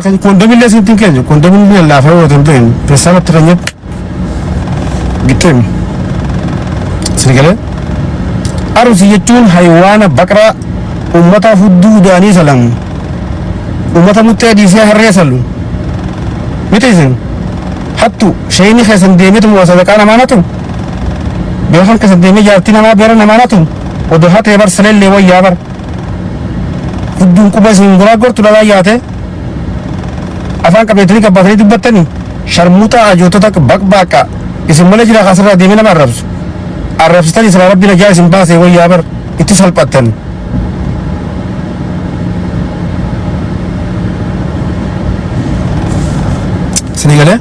Kan koondomillee sitti hin kennu koondomillee laafee yoo ta'u hin peessaamatti kan nyaatu gitteemi. Sini galee arusi jechuun hayiwaana baqraa uummata hudduu udaanii salamu uummata muttee dhiisee harree salu miti isin hattu shayini keessan deemetu moo sadaqaa namaa natu beekan keessan deemee jaartii namaa beera namaa natu odoo hatee bar saleellee wayyaa bar. Hidduun quba isin goraaggor tulalaa yaate afaan qabeetanii gabbaatanii dubbattanii sharmuuxaa hajootota baqbaaqa isin malee jira kaasirraa deemee nama arrabsu arrabsitan isra rabbi najaa isin baasee wayyaa bar itti salphattan isin eegalee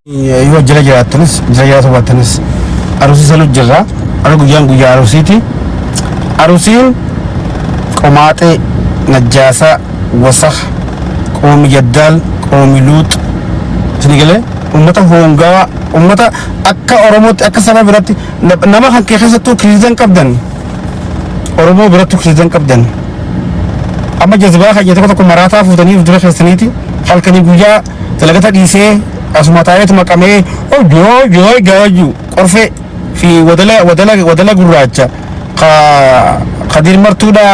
yoo jira jiraattanis jira jiraata baattanis arusii sanu jirra ara guyyaan guyyaa arusiiti arusiin qomaaxee najjaasaa wasakh qoomi yaddaal qoomi luux sini galee ummata hoongaa ummata akka oromootti akka saba biratti nama kan kee keessattuu kiriizan qabdan Oromoo bira tuksiisan qabdan. Amma jazbaa keenya tokko tokko maraataa fuutanii of dura keessaniiti halkanii guyyaa dalagata dhiisee asuma taa'eetu maqamee hojjoo hojjoo gaajuu qorfee fi wadala wadala wadala gurraacha ka kadiir martuudha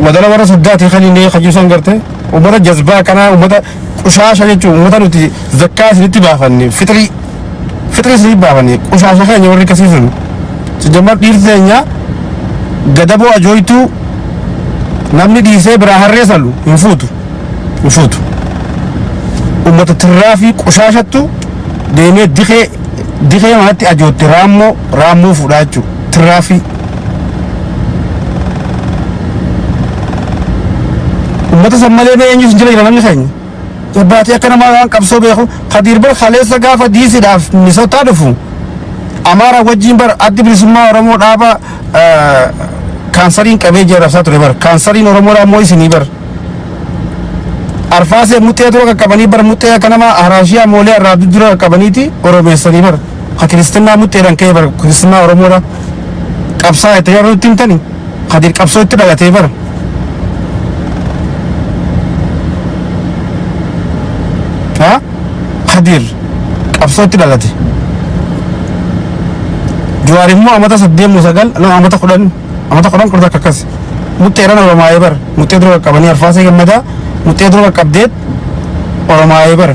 wadala warra soddaati kan inni kajuusan garte ummata jazbaa kanaa ummata Qushaasha jechuun uummata nuti zakkaa isinitti baafanne fixrii fixrii isinitti baafanne qushaasha keenya warri kasii sun sijammar dhiirri keenya gadaboo ajooytuu namni dhiisee biraa harree salu hin fuutu hin fuutu uummata tirraa fi qushaashattu deemee dikee dikee manatti ajootte raammoo raammoo fuudhaa jechuudha tirraa fi Uummata san malee bee eenyus jira jira namni keenya. Jabbaatii akka namaa waan qabsoo beeku Kadiir bar kaleessa gaafa diisidhaaf Minisootaa dhufu Amaara wajjin bar addi bilisummaa Oromoo dhaaba eh, kaansariin qabee jee rabsaa ture bar kaansariin Oromoodhaa immoo isinii bar. Arfaasee muxxee dura qaqqabanii bar muxxee akka nama Haraashiyaa moolee irraa dura qaqqabaniiti Oromeessanii bar. ka kiristinnaa mudhiidhaan ka'ee bara kiristinnaa Oromoodha qabsaa itti jedhu itti himtani ka dirqabsoo itti dhalatee bara ha kadir qabsoo itti dhalate Jawaar immoo amata saddeemmoo sagal no amata kudhan amata kudhan kudha takka akkas mudhiidhaan Oromaayee bara mudhii dura qaqqabanii arfaasee gammadaa mudhii dura qaqqabdeet Oromaayee bara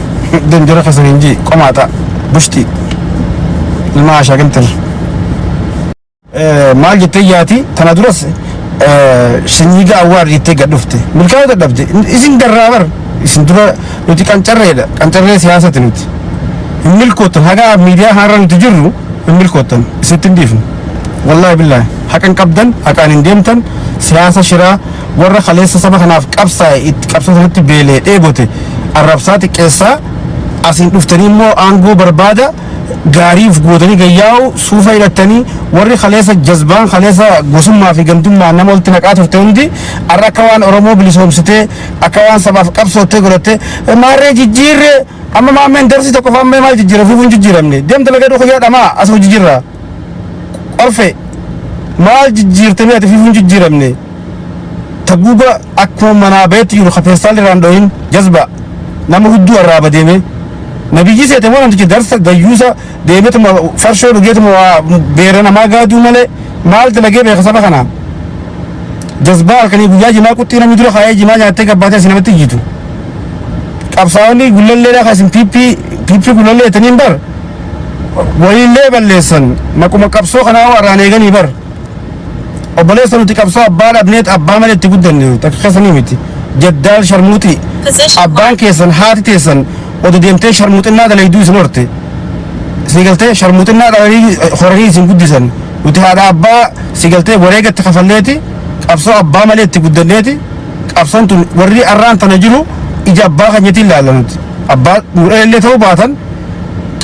Danjara Kasarinji Qomata Bushti Ilma Asha Gimtir Maal jettee yaati tana duras shanyiiga awwaar jettee gad dhufte milkaa'uu dadhabde isin garraa bar isin dura nuti qancarreedha qancarree siyaasati nuti hin milkoottan haga miidiyaa haarra nuti jirru hin milkoottan isitti hin dhiifnu wallaahi billaahi haqan qabdan haqaan hin deemtan siyaasa shiraa Warra kaleessa saba kanaaf qabsaa'e itti qabsoo sanatti beela'e dheebote arrabsaa xiqqeessaa asiin dhuftanii immoo aangoo barbaada gaarii uf gootanii gayyaa'u suufa hidhattanii warri kaleessa jazbaan kaleessa gosummaa fi gandummaa nama walitti naqaa turte hundi arra akka waan Oromoo bilisoomsitee akka waan sabaaf qabsoottee godhattee maarree jijjiirree amma maammeen darsii tokko faammee maal jijjiira fuufuun jijjiiramne deemta lagaduu kiyyaa dhamaa as hojii jirra. Qorfe maal jijjiirtanii ati fifuun jijjiiramne taguuba akkuma manaa bayetti jiru kafeestaan irraan dhohin jazba nama hudduu arraaba deeme nabiyyii seete moo namtichi darsa gayyuusa deemetuma farshoo dhugeetuma waa beera namaa gaaduu malee maal dalagee beeka saba kanaa jazbaa halkanii guyyaa jimaa quxxii namni dura kaayee jimaa nyaattee gabbaatee asi namatti jiitu qabsaa'onni gullallee dhaa kan isin piippii piippii gullallee jetaniin bar waliillee balleessan maquma qabsoo kanaa warraan eeganii bar obboleessa nuti qabsoo abbaa dhabneet abbaa malee itti guddanne takka keessanii miti jaddaal sharmuuxii abbaan keessan haati teessan odo deemtee sharmuuxinnaa dalayduu isin horte sii galtee sharmuuxinnaa dhalanii horanii isin guddisan nuti haadha abbaa sii galtee wareegatti kafalleeti qabsoo abbaa malee itti guddanneeti qabsoon tun warri arraan tana jiru ija abbaa keenyatiin laalla nuti abbaa nu dhalallee ta'uu baatan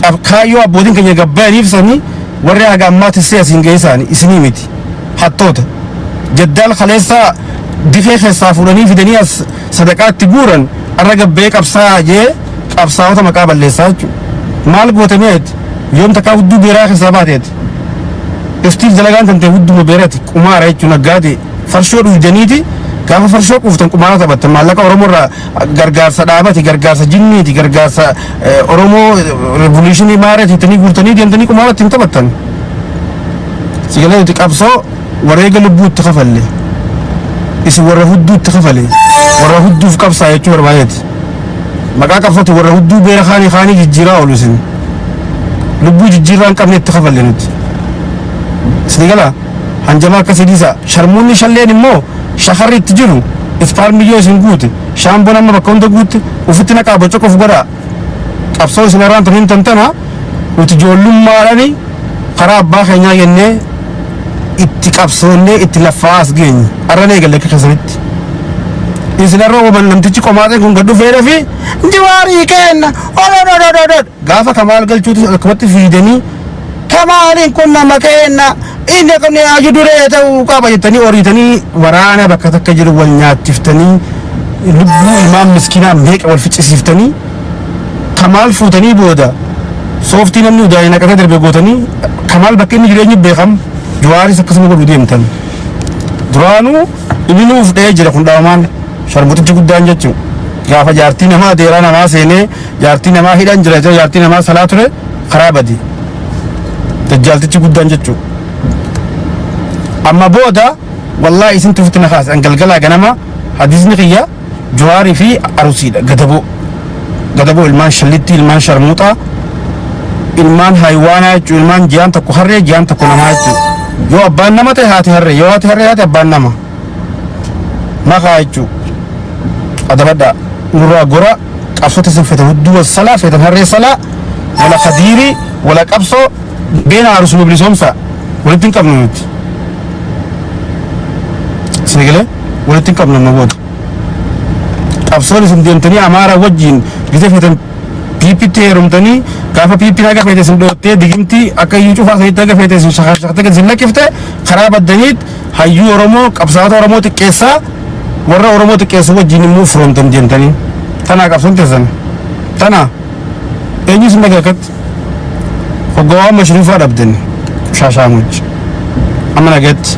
qab kaayyoo abbootiin keenya gabbayaniif sanii warri haga ammaa tissee asiin ga'ee isaanii isinii miti hattoota jaddaal kaleessaa difee keessaa fuudhanii fidanii as sadaqaatti guuran arra gabbayee qabsaa jee qabsaa'ota maqaa balleessaa jechuudha maal goote meet yoom takkaa hudduu beeraa keessaa baateeti iftiif dalagaan tantee hudduma beerati qumaara jechuun naggaate farshoo dhuudaniiti gaafa farshoo quuftan qumaara taphattan maallaqa oromoo irraa gargaarsa dhaabati gargaarsa jinniiti gargaarsa eh, oromoo revolutionii maarati ittanii guurtanii deemtanii qumaara ittiin taphattan sigalee nuti qabsoo wareega lubbuu itti kafalle isin warra hudduu itti kafale warra hudduuf qabsaa jechuu barbaadeeti maqaa qabsooti warra hudduu beera kaanii kaanii jijjiiraa oolu isin lubbuu jijjiirraa hin qabne itti kafalle nuti isin galaa Hanjama akkasi dhisa sharmuunni shalleen immoo shakarri itti jiru iftaarmii yoo isin guute shaambon amma bakka hunda guutte ufitti naqaa bocoq of godhaa qabsoo isin irraan tun hin tantana nuti joollummaadhani karaa abbaa keenyaa jennee itti qabsoonnee itti laffaa as geenye arran eegalle akka keessanitti isin irra waban namtichi qomaaxeen kun gad dhufeedha fi jiwaarii keenna olododododod Gaafa Kamaal galchuutis akkumatti fiidanii Kamaaliin kun nama keenna inni akka inni haaju duree ta'uu qaba jettanii oriitanii waraana bakka takka jiru wal nyaachiftanii lubbuu ilmaan miskinaa meeqa wal ficcisiiftanii Kamaal fuutanii booda sooftii namni udaa'ee naqatee darbee gootanii Kamaal bakka inni jireenyi beekam Jawaaris akkasuma godhu deemtan. duraanuu inni nuuf dha'ee jira kun dhaamaan sharmuxichi guddaan jechuun gaafa jaartii namaa deeraa namaa seenee Jaartii namaa hidhan jira jira jaartii namaa salaa ture karaa badi. Dajjaaltichi guddaan jechuu. Amma booda wallaahi isin tufitti na kaase an galgalaa ganama hadiisni kiyya juwaarii fi arusiidha gadaboo. Gadaboo ilmaan shallittii ilmaan sharmuuxaa ilmaan haayiwaanaa jechuun ilmaan ji'aan tokko harree ji'aan tokko namaa jechuudha. Yoo abbaan nama ta'e haati harree yoo haati harree haati abbaan nama. Maqaa jechuudha. Adabadhaa nurraa gora Qabsota isin fete hudduu wassala fetan harree sala wala kadiiri wala qabso beena arusu nu bilisoomsa walitti hin qabnu nuti sinigale walitti hin qabnu amma booda qabsoon isin deemtanii amaara wajjiin gita fetan piipitti heerumtanii gaafa piippiin haga feete isin dhoottee digimtii akka iyyuu cufaa sanitti haga feete isin shakashakte gad isin lakkifte karaa baddaniit Hayyuu Oromoo qabsaa'ota Oromoo xiqqeessaa warra Oromoo xiqqeessu wajjin immoo firoomtan deemtanii tanaa qabsoon teessan tanaa eenyu isin dhagee akkatti hoggawaa mashruufaa dhabden shaashaamuch amma nageetti.